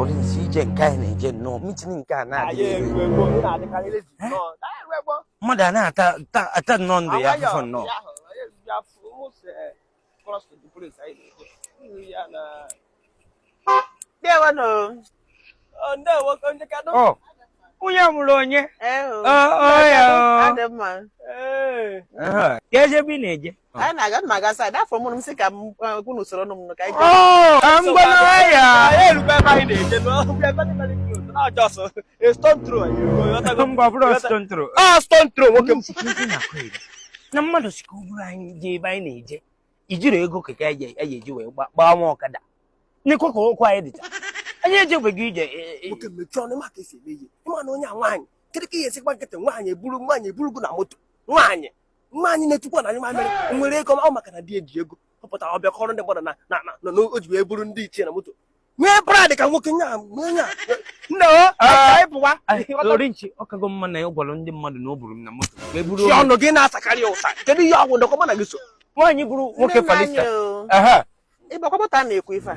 Olinsi ije nke anyị na-eje nnọọ mitin nke a na-adị mmadụ a na-ata nnọọ ndụ ya afụfụ nnọọ oh, onye mụrụ onye ka eze ebe ị na-eje anyị na-aga nna aga saịdị afọ mụrụ m si ka m gwu n'usoro ọnụ m nụ ka anyị na mmadụ sị ka o buru anyị je ebe anyị na-eje ijiri ego keke anyị eji wee gbaa nwa ọkada n'ekwe ka okwu anyị dịcha anyị ejebeghị ije nwoke mechie ọnụ maka esi eme ihe ịma na onye a nwaanyị kedu ka ihe esikwa nkịtị nwaanyị eburu nwaanyị eburugo na moto nwaanyị mma anyị na-etukwa na anyị mamịrị nwere ego ọ maka na di eji ego ọ pụtara ọbịa kọrọ ndị mmadụ na na na na o ji wee buru ndị ichie na moto nwee brad ka nwoke nya nwee nya nne o anyị pụwa orinchi ọ kago mma na ya gwara ndị mmadụ na o buru m na moto wee buru chi ọnụ gị na-asakarị ya ụsa kedu ihe ọgwụ ndọkọ mụ na gị so nwaanyị bụrụ nwoke falista ịgbakwapụta na-ekwu ife a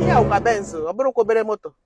ihe awụ ka Benz ọ bụrụkwa obere moto